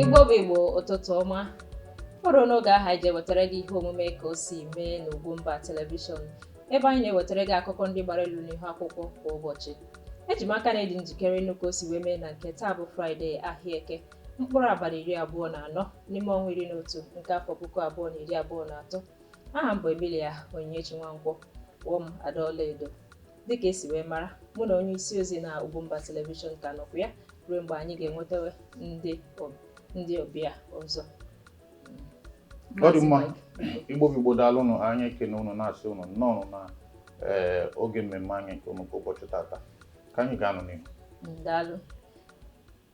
Igbo bụ Igbo ụtụtụ ọma fọrọ n'oge ahụ anyị ji ewetara gị ihe omume ka o si mee n'Ugwumba telivishọn ebe anyị na-ewetara gị akụkọ ndị gbara elu n'ihu akwụkwọ kwa ụbọchị eji m aka na ị dị njikere ịnụ ka o si wee mee na nke taa bụ fraịde ahịa eke mkpụrụ abalị iri abụọ na anọ n'ime ọnwa iri na otu nke afọ puku abụọ na iri abụọ na atọ aha m bụ Emilia Onyinyechi Nwankwo kpọọ m Ada Ọlaedo dịka e si wee mara mụ na onye isi ozi na Ugwumba Television ka nọkwa ya ruo mgbe anyị ga-enwetawe ndị ob- ndị ọbịa ọzọ Ọ dị mma. Igbo bụ Igbo daalụ nụ anyị ekene unu na-asị unu nnọọ nụ na ee, oge mmemme anyị nke unu nke ụbọchị tata ka anyị gaanụ n'ihu Daalụ.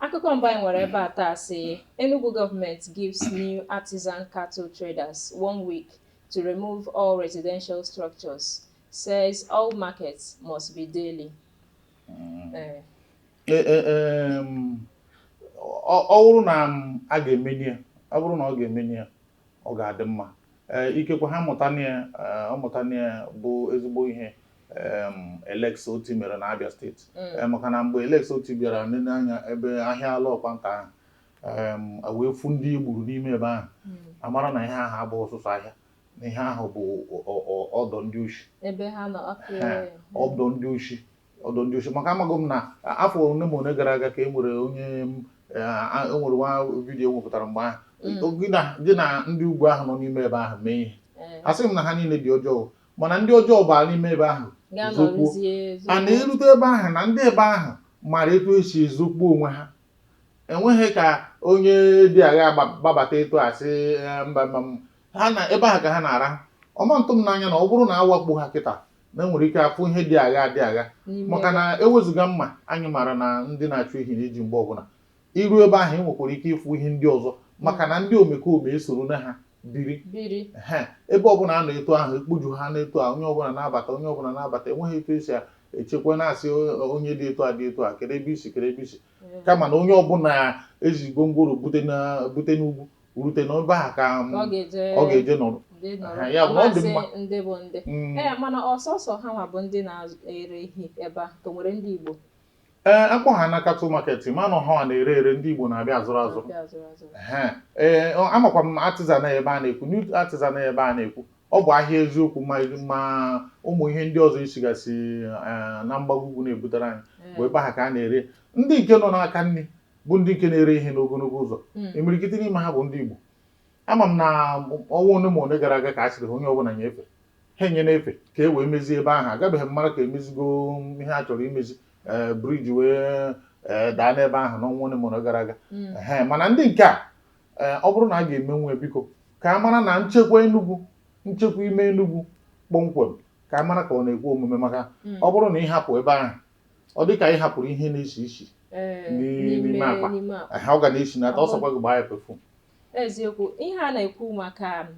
Akụkọ mbụ anyị nwere ebe a taa sị Enugu government gives New Artisan cattle traders one week to remove all residential structures Says all markets must be daily. Mm. Eh. Eh, eh, um, ọ bụrụ na um, a ga-emeni ya ọ bụrụ na ọ ga-emeni ya ọ ga-adị mma ikekwe ha mụta ọ mụta ya bụ ezigbo ihe um, Alex Otti mere na Abia steeti mm. maka na mgbe Alex Otti bịara nene anya ebe ahịa Lokpanta ahụ wee fụ ndị e gburu n'ime ebe ahụ mm. a mara na ihe ahụ abụghị sọsọ ahịa na ihe ahụ bụ ọdọ ndị oshi ọdọ ndị oshi ọdọ ndị oshi maka amaghị m na afọ ole ma ole gara aga ka e nwere onye e nwere nwa vidiyo e wepụtara mgbe ahụ mm. gị na ndị ugwu ahụ nọ n'ime ebe ahụ mee ihe eh. a sị m na ha niile dị ọjọọ mana ndị ọjọọ baa n'ime ebe ahụ zokpuo a na-erute ebe ahụ na ndị ebe ahụ mara etu e si ezokpuo onwe ha enweghị ka onye dị aghaa gbabata etu asị eh, mba mba ha na ebe ahụ ka ha na-araha ọ ma ntụ m n'anya na ọ bụrụ na a wakpo ha kịta na e nwere ike afụ ihe dị aghaa dị aghaa maka na e wezuga mma anyị maara na ndị na-achụ ehi na-eji mgbe ọbụla i ruo ebe ahụ ị nwekwara ike ịfụ ihe ndị ọzọ maka na ndị omekome esoro na ha biri ebe ọbụla a na-eto ahụ ekpuju ha na-eto a onye ọbụla na-abata onye ọbụla na-abata enweghị etu e si echekwa na-asị onye dị etu a dị etu a kee ebe i si kee ebe i si kama na onye ọbụla e ji gwongworo bute n'ugwu rute na ebe a ka m- ka ọ ga-eje ọ ga-eje nọrọ ndị nọrọ. Ha, ya bụ na ọ dị Amasị mma. ndị bụ ndị Mm. ee mana ọ sọsọ ha nwa bụ ndị na-ere ehi ebe a ka o nwere ndị Igbo ee a kpọ ha na cattle market mana ọ ha na-ere ere ndị igbo na-abịa azụrụ azụrụ na-abịa azụrụ azụrụ Ehe. ee ọ- amakwa m Artisan ebe a na-ekwu New Artisan ebe a na-ekwu ọ bụ ahịa eziokwu ma ma ụmụ ihe ndị ọzọ sigasị eh, na mgbago ugwu na-ebutere anyị bụ ebe ahụ ka a na-ere ndị nke nọ n'aka nri bụ ndị nke na-ere ihe n'ogologo ụzọ hmm. imirikiti n'ime ha bụ ndị Igbo ama m na ọnwa one ma one gara aga ka a sịrị onye ọbụla nyefe ha enye na-efe ka e wee mezie ebe ahụ agabeghị m mara ka emezigo ihe a chọrọ imezi eh, briji wee eh, daa n'ebe ahụ n'ọnwa one ma one gara aga hmm. mana ndị nke a eh, ọ bụrụ na a ga-emenwu biko ka a mara na nchekwa Enugu nchekwa ime Enugu kpọmkwem ka a mara ka ọ na-ekwe omume maka hmm. ọ bụrụ na ị hapụ ebe ahụ ọ dị ka ị hapụrụ ihe na-esi isi ee, Ni- n'ime akpa. n'ime akpa aha ọ ga na-esi na ata ọ sọkwa gị gbaa ya perfume eziokwu ihe a na-ekwu maka um,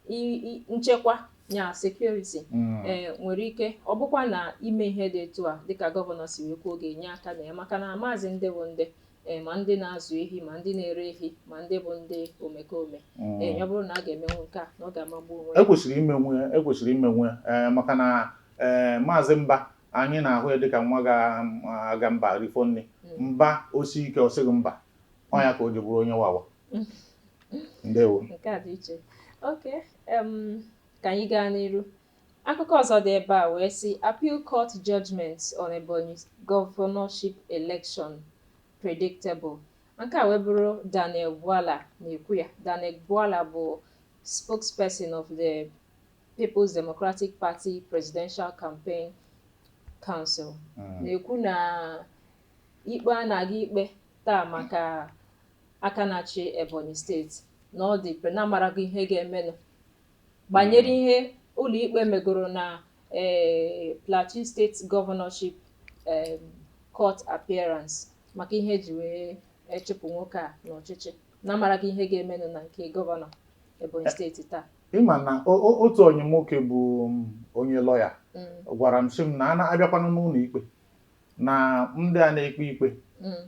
i- i- nchekwa ya security ee nwere ike ọ bụkwa na ime ihe dị etu a dịka gọvanọ si wee kwuo ga-enye aka na ya maka na a mazi ndị bụ ndị ee ma ndị na-azụ ehi ma ndị na-ere ehi ma ndị bụ ndị omekome mm. ee ya bụrụ na a ga-emenwu nke a na ọ ga-amagbu onwe ya ekwesịrị imenwu ya ekwesịrị imenwu ya ee maka na ee maazị Mba anyị na-ahụ ya dịka nwa ga mba rifọ nni mm. mba osi ike ọ sịghị mba ọ ya ka o ji bụrụ onye wawa ndewo nke a dị iche okay ka anyị gaa n'iru Akụkọ ọzọ dị ebe a wee sị, Appeal Court Judgement on Ebonyi Governorship Election Predictable, Nke a wee bụrụ Daniel Bwala na-ekwu ya. Daniel Bwala bụ spokesperson of the Peoples Democratic Party Presidential Campaign Council na-ekwu na ikpe a na-aga ikpe taa maka aka na-achị Ebonyi steeti na ọ dị pre na a marago ihe ga-emenụ banyere ihe ụlọikpe megoro na um Plateau State Governorship um Court Appearance maka ihe eji wee e chụpụ nwoke a n'ọchịchị na a marago ihe ga-emenụ na nke gọvanọ Ebonyi steeti taa. Ị ma na o- o- otu onye nwoke bụ um, onye lọya Mm, gwara m sị m na a na-abịakwanụ n'ụlọ ikpe na ndị a na-ekpe ikpe mm,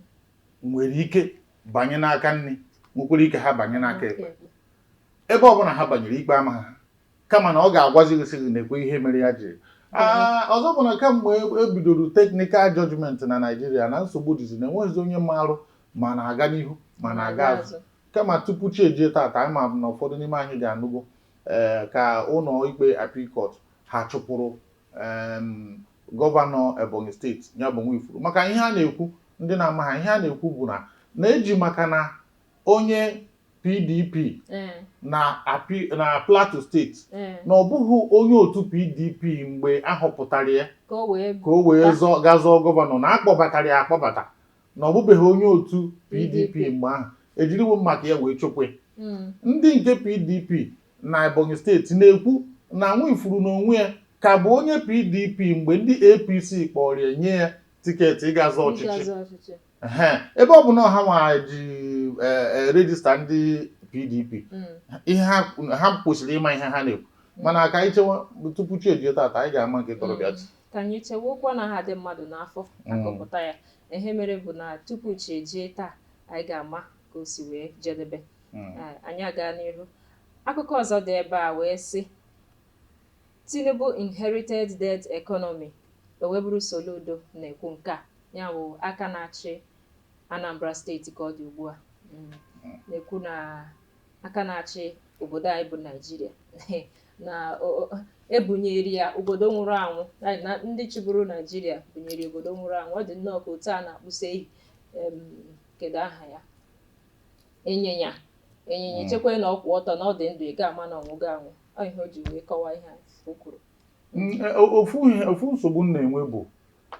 nwere ike banye n'aka nri nwekwara ike ha banye n'aka ekpe okay. ebe ọbụla ha banyere ikpe ama ha kama na ọ ga-agwazi gị sị gị nekwa ihe mere ya jiri Ah, ọzọ bụ na kamgbe e- e bidoro technical judgment na Naịjirịa na nsogbu dịzi na enweghịzi onye marụ ma a na-aga n'ihu ma a na-aga azụ kama tupu chi ejie tata anyị ma na ụfọdụ n'ime anyị ga-anụgo ee ka ụlọ ikpe appeal court ha chụpụrụ em, gọvanọ Ebonyi steeti ya bụ Nwifuru maka ihe a na-ekwu ndị na-amaghị ihe a na-ekwu bụ na na eji maka na onye PDP eh. na na Plateau steeti eh. na ọ bụghị onye otu PDP mgbe a họpụtara ya ka o wee gaa zọọ gọvanọ na akpọbatara ya akpọbata na ọ bụbeghị onye otu PDP mgbe ahụ ejiriwo maka ya wee chụpụ ya hmm. ndị nke PDP na Ebonyi steeti na-ekwu na Nwifuru n'onwe ya ka bụ onye PDP mgbe ndị APC kpọrọ ya nye ya tiketi ịga zọọ ọchịchị ebe ọ bụ na ha nwa ji e, e, rejista ndị PDP hmm. ihe ha kwesịrị ịma ihe ha na-ekwu hmm. mana ka anyị chewa tupu chi ejie taata anyị ga-ama nke tọrọ ibe ya hmm. ka anyị chewokwa na ha dị mmadụ n'afọ akọpụta ya ihe mere bụ na tupu chi ejie taa anyị ga-ama ka o si wee jedebe anyị aga n'ihu akụkọ ọzọ dị ebe a wee sị Tinubu inherited dead economy O wee bụrụ Soludo na-ekwu nke a, ya bụ aka na-achị Anambra steeti ka ọ dị ugbu a na-ekwu na aka na-achị obodo anyị bụ Naijiria na o- o- ebunyere ya obodo nwụrụ anwụ na- na ndị chịburu Naijiria bunyere ya obodo nwụrụ anwụ ọ dị nnọọ ka otu a na-akpụsa ehi em, kedu aha ya ịnyịnya ịnyịnya Mm. chekwa na ọ kwụ ọtọ na ọ dị ndụ ị ga-ama na ọ nwụgo anwụ ọ ihe o ji wee kọwa ihe a o kwuru Mm, e, ofu ihe ofu nsogbu m na-enwe bụ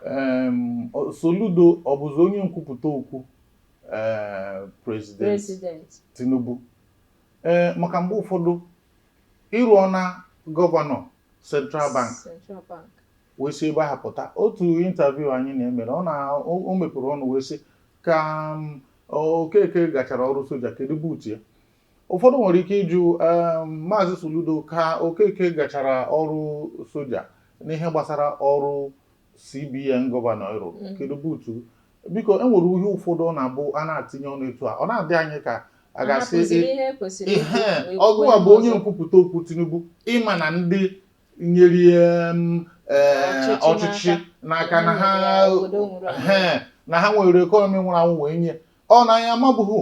em, ọ- Soludo ọ bụzi onye nkwupụta okwu eh, president president Tinubu ee maka mgbe ụfọdụ ị rụọ na gọvanọ Central Bank Central Bank wee si ebe ahụ pụta otu intaviu anyị na-emere ọ na o o mepere ọnụ wee sị ka Okeke gachara ọrụ soja kedu buutu ya ụfọdụ nwere ike ịjụ um, maazị Soludo ka Okeke gachara ọrụ soja n'ihe gbasara ọrụ CBN gọvanọ ị rụrụ mm. kedu buutu biko e nwere ihe ụfọdụ ọ na-abụ a na-atinye ọnụ etu a ọ na-adị anyị ka a ga-asị ọ gụwa bụ onye nkwupụta okwu Tinubu ị ma na ndị nyere um, eh, ọchịchị n'aka na ha na ha nwere ekọnọmi nwụrụ anwụ wee nye ọ na anyị amabughị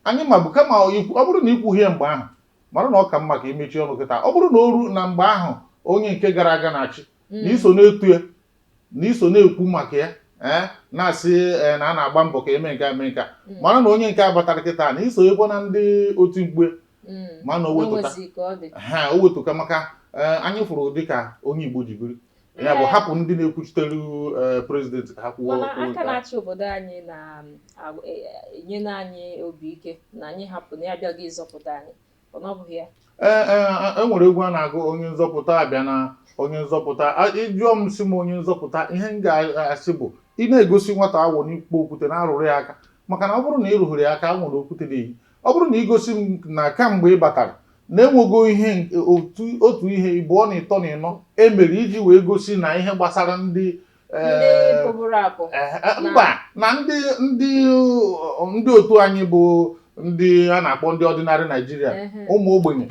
Anyị mabu kama ikwu- ọ bụrụ na i kwughị ya mgbe ahụ mara na ọ ka mma ka i mechie ọnụ kịta ọ bụrụ na o ruo na mgbe ahụ onye nke gara aga na-achị na i so na-etu ya na i so na-ekwu maka ya ee na-asị ee, na a na-agba mbọ ka e mee nke a mee nke a mara na onye nke a batara kịta na i sokwa na ndị otimkpu ya Mm. ma na o nwetụ ka O nwezi ka ọ dị. ha o nwetụ ka maka ee, anyị fụrụ dịka onye Igbo ji biri ya bụ hapụ ndị na-ekwuchitere eh, prezidenti ka ha kwuo mana okwu aka nke a. na-achị obodo anyị na-enye anyị obi ike na anyị hapụ na ya abịago ịzọpụta anyị ọ na ọ bụghị ya Ee, ee, e nwere egwu a na-agụ onye nzọpụta abịana onye nzọpụta A- ị jụọ m sị m onye nzọpụta ihe m ga-asị bụ ị na-egosi nwata awọ n'ikpo okwute na-arụrụ ya aka maka na ọ bụrụ na ị rụghịrị ya aka awọ na okwute na-eyi ọ bụrụ na i gosi m na kamgbe ị batara na e nwego ihe otu ihe ịbụọ na ịtọ na ịnọ e mere iji wee gosi na ihe gbasara ndị eh, eh, eh, mba na ndị ndị ndị otu anyị bụ ndị a na-akpọ ndị ordinary Naijiria ụmụ ogbenye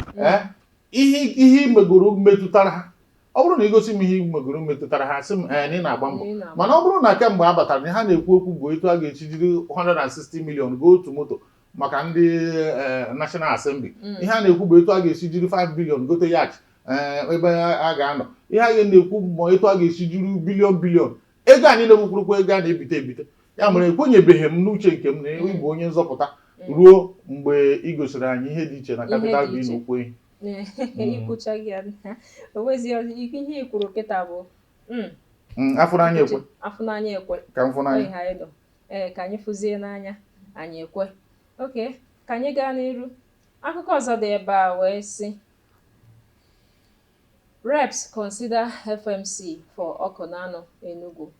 ihe ihe i megoro metụtara ha ọ bụrụ na ị gosi m ihe i megoro metụtara ha sị m ee na ị na-agba mbọ Ị na-agba mana ọ bụrụ na kemgbe a batara na ihe a na-ekwu ekwu bụ etu a ga-esi jiri 160 million goo otu moto maka ndị eh, National Assembly Mm. ihe a na-ekwu bụ etu a ga-esi jiri 5 billion gote yacht eh, ebe a ga-anọ ihe a na-ekwu bụ ma etu a ga-esi jiri billion billion ego a niile bụkwurụkwa ego a na-ebite ebite ya mere ekwenyebeghị m n'uche nke m na mm. ị bụ onye nzọpụta mm. ruo mgbe ị gosiri anyị ihe dị iche na kapital bi n'okwu ihe i kwuchaghị ya o nwezi ihe i kwuru kịta bụ mm. a fụ n'anya e kwe a fụ n'anya e kwe ka m fụ n'anya ha ịdọ ee ka anyị fụzie n'anya anyị ekwe okay ka anyị gaa n'iru akụkọ ọzọ dị ebe a wee sị Reps consider FMC for Ọkụnanọ, Enugu.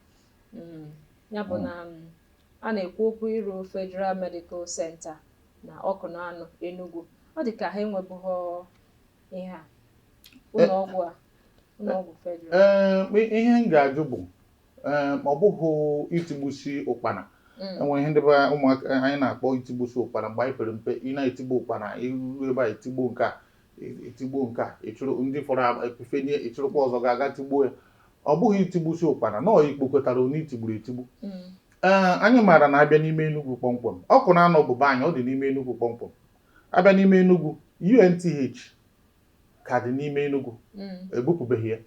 Mm, ya bụ na mm, a na-ekwu okwu ịrụ Federal Medical Center na Ọkụnanọ, Enugu. Ọ dị ka ha enwebughị ihe a ụlọọgwụ a ụlọọgwụ federal. Ee, ma ihe m ga-ajụ bụ ee, ma ọ bụghị itigbusi ụkpana Mm, e nwe ihe ndị be ụmụaka anyị na-akpọ itigbusi ụkpana mgbe anyị pere mpe ị na-etigbu ụkpana i ru ebe a etigbu nke a i tigbuo nke a ị chụrụ ndị fọrọ efefenye ị chụrụkwa ọzọ ga-aga tigbuo ya ọ bụghị itigbusi ụkpana nọọ ikpokọtara onye i tigburu etigbu mm. ee anyị maara na a bịa n'ime Enugu kpọmkwem Ọkụnanọ bụ be anyị ọ dị n'ime Enugu kpọmkwem a bịa n'ime Enugu UNTH ka dị n'ime Enugu mm. ebupụbeghị ya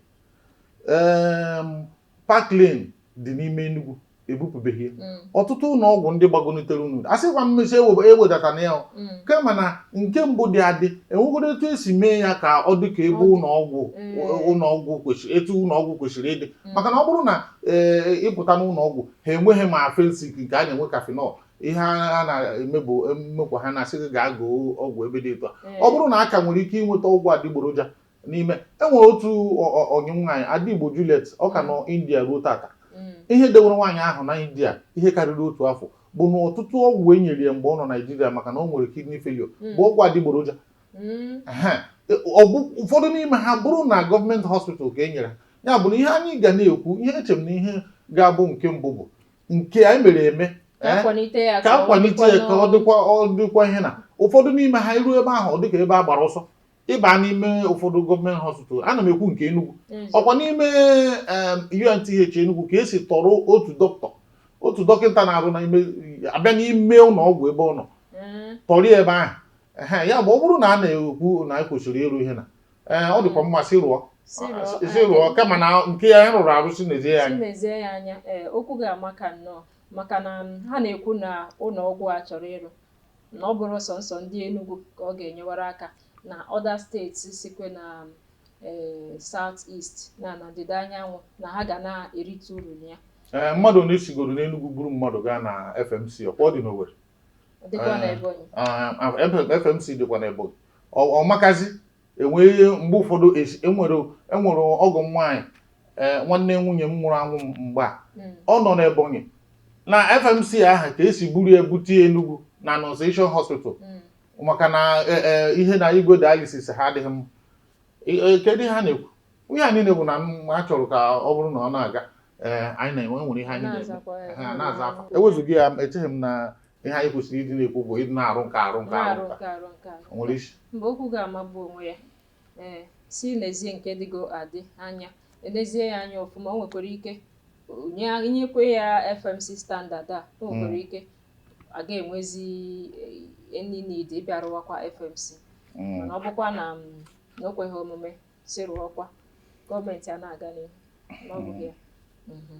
Parklane dị n'ime Enugu ebupụbeghị ya mm. ọtụtụ ụlọ ọgwụ ndị gbagonitere enu asịkwa m sị ewedatana ya mm. kama na nke mbụ dị adị e nwegoro etu e si mee ya ka ọ dị ka ebe ụlọ ọgwụ mm. ụlọ ọgwụ kwesịrị etu ụlọ ọgwụ kwesịrị ịdị maka na ọ bụrụ na ee eh, ị pụta n'ụlọ ọgwụ ha enweghị ma Phensic nke ha na-enwe Cafenol ihe a na-eme bụ mmekwa ha na-asị gị gaa goo ọgwụ ebe dị etu a ọ bụrụ na a ka nwere ike ịnweta ọgwụ adịgboroja n'ime e nwere otu ọ- ọ- ọyị m nwaanyị ada Igbo Juliet ọ ka nọ india ruo tata Mm. ihe dewere nwaanyị ahụ na india ihe karịrị otu afọ bụ na ọtụtụ ọgwụ e nyere ya mgbe ọ nọ naijiria maka na ọ nwere kidney failure Mm. bụ ọgwụ adịgboroja Mm. Ehe. Ọ bụ ụfọdụ n'ime ha bụrụ na gọọmenti hospital ka e nyere ya ya bụ na ihe anyị ga na-ekwu ihe eche m na ihe ga-abụ nke mbụ bụ nke anyị mere eme Ka eh, a kwalite ya ka ọ a kwalite ya ka ọ dịkwa- dịkwa ọ dịkwa ihe na ụfọdụ n'ime ha i ruo ebe ahụ ọ dịka ebe a gbara ọsọ ị baa n'ime ụfọdụ gọọmenti hospital ana m ekwu nke Enugu ọ kwa n'ime UNTH Enugu ka e si tọrọ otu dọkịta otu dọkịta na-arụ n'ime a bịa n'ime ụlọ ọgwụ ebe ọ nọ mm. tọrọ ya ebe ahụ ya bụ ọ bụrụ na a na-ekwu na anyị kwesịrị ịrụ ihe na eh, ọ dịkwa mma sị rụọ sị rụọ kama na nke ya anyị rụrụ arụ sị nezie ya anya eh, okwu ga-amaka nnọọ maka na ha na-ekwu na ụlọ ọgwụ a chọrọ ịrụ na ọ bụrụ sọnsọ ndị Enugu ka ọ ga-enyewara aka na other states sikwe na ee South East na na ndịda anyanwụ na ha ga na-erite uru na ya ee mmadụ na-esigoro n'Enugu buru mmadụ gaa na FMC ọkwa ọ dị n'Owerri FMC dịkwa na Ebonyi ọmakazi enwere mgbe ụfọdụ esi- enwere enwere ọgọ m nwaanyị ee nwanne nwunye m nwụrụ anwụ mgbe ọ nọ n'Ebonyi na FMC ahụ ka e si buru ya bute ya Enugu na Annunciation Hospital maka na e- e, ihe na igwe dialysis ha adịghị mma E- e, kedu ihe ha na-ekwu ihe anyị na-ekwu na a chọrọ ka ọ bụrụ na ọ na-aga ee anyị nwere ihe anyị na-aza afa. ewezuga ya echeghị m na ihe anyị kwesịrị ịdị na-ekwu bụ ịdị na-arụ nke arụ nke arụ na-arụ nke nke arụ nke arụ o nwere isi mgbe okwu ga-amagbu onwe ya ee sị lezie nke dịgo adị anya elezie ya anya ọfụma o nwekwara ike o- nye- nyekwe ya FMC standard a o nwekwara ike a ga-enwezi eh, any need ịbịa rụwakwa FMC Mm. mana ọ bụkwa na mm, na o kweghị omume sị rụọkwa gọọmenti a na-aga n'ihu na ọ bụghị ya Mhm.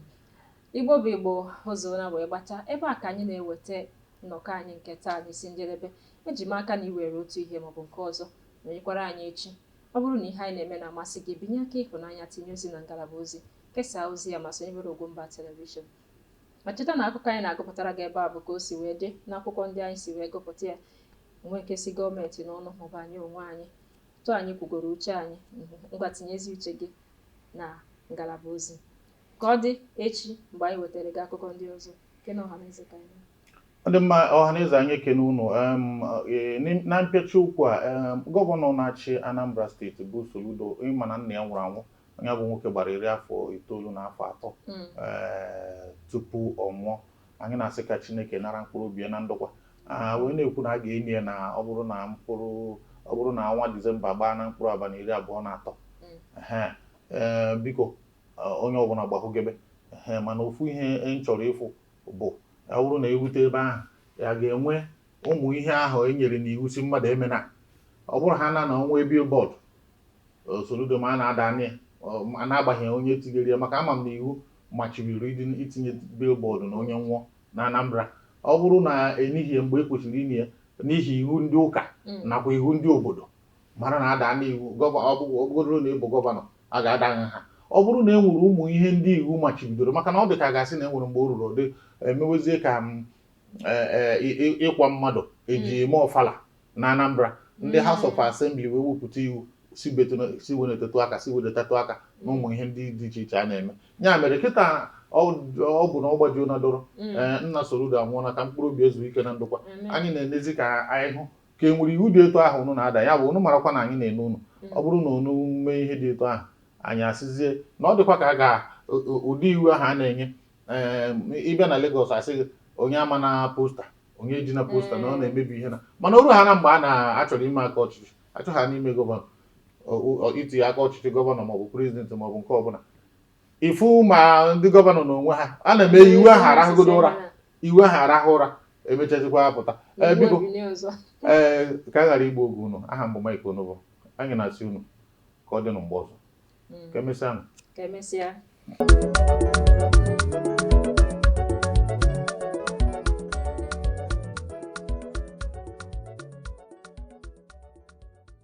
Igbo bụ Igbo, o zuola wee gbacha. Ebe a ka anyị na-eweta nnọkọ anyị nke taa n'isi njedebe. Eji m aka na i were otu ihe maọbụ nke ọzọ nọnyekwara anyị echi. Ọ bụrụ na ihe anyị na-eme na-amasị gị, binye aka ịhụnanya tinye ozi na ngalaba ozi, kesaa ozi a ma sonyebere Ogwumba Telivishọn. Ma cheta na akụkọ anyị na-agụpụtara gị ebe a bụ ka o si wee dị n'akwụkwọ ndị anyị si wee gụpụta ya o nwe nke si gọọmenti n'ọnụ maọbụ anyị onwe anyị etu anyị kwugoro uche anyị ngwa tinyezi uche gị na ngalaba ozi Ka ọ dị echi mgbe anyị wetara gị akụkọ ndị ọzọ, kene ọhaneze ka anyị. Ọ dị mma ọhaneze anyị ekene unu um, eh, n'im- na mpịachi okwu a um, gọvanọ na-achị Anambra steeti bụ Soludo ị ma na nna ya nwụrụ anwụ onye bụ nwoke gbara iri afọ itoolu na afọ atọ Mm. eh, tupu ọ nwụọ anyị na-asị ka Chineke nara mkpụrụ obi ya na ndokwa Ah, wee na-ekwu na a ga-eni ya na ọ bụrụ na ọnwa Disemba gbaa na mkpụrụ abalị iri abụọ na atọ Mm. Ehe. Eh, biko onye ọbụla gbahụgebe ee mana ofu ihe m chọrọ ịfụ bụ ọ bụrụ na e rute ebe ahụ a ga-enwe ụmụ ihe ahụ e nyere n'iwu sị mmadụ emena ọ bụrụ ha na na o nwe billboard Soludo ma a na-ada anya ya a na-agbaghị onye tinyere ya maka ama m na iwu machibiri itinye billboard na onye nwụọ na Anambra ọ bụrụ na enighị ya mgbe e kwesịrị ini ya n'ihi iwu ndị ụka mm. nakwa iwu ndị obodo mara na ada n'iwu ọ bụgodoro na ị bụ gọvanọ A ga-ada nha ha. Ọ bụrụ na e nwere ụmụ ihe ndị iwu machibidoro, maka na ọ dị ka a ga-asị na e nwere mgbe o ruru ọ dị emewezie ka ịkwa mmadụ e ji eme ọfala na Anambra ndị mm. House of Assembly wee wepụta iwu sị wenetetụ aka sị wedetatụ aka na ụmụ ihe ndị dị iche iche a na-eme ya mere kịta ọ bụ na ọ gbajuo na dọrọ mm. nna Soludo anwụọla ka mkpụrụ obi ya zuo ike na ndokwa anyị na-enezi ka anyị hụ ka e nwere iwu dị etu ahụ unu na-ada ya bụ unu marakwa na anyị na-ene unu ọ bụrụ na unu mee ihe dị etu ahụ anyị asịzie na ọ dịkwa ka a ga ụdị iwu ahụ a na-enye ị bịa na Lagos a sị gị onye amana posta onye ejina posta na ọ mm. na-emebi ihe na mana o ruhana mgbe a na-achọrọ ime aka ọchịchị a chọhana ime gọvanọ itinye aka ọchịchị gọvanọ maọbụ prezidenti maọbụ nke ọbụla ị fụ ma ndị gọvanọ n'onwe ha a na-eme iwu ahụ arahụgodo ụra iwu ahụ arahụ ụra e mechazikwaa a pụta ee biko ee ka a ghara igbu oge unu aha m bụ Mike Onovo anyị na-asị unu ka ọ dịnụ mgbe ọzọ mm. ka emesịa nụ ka emesịa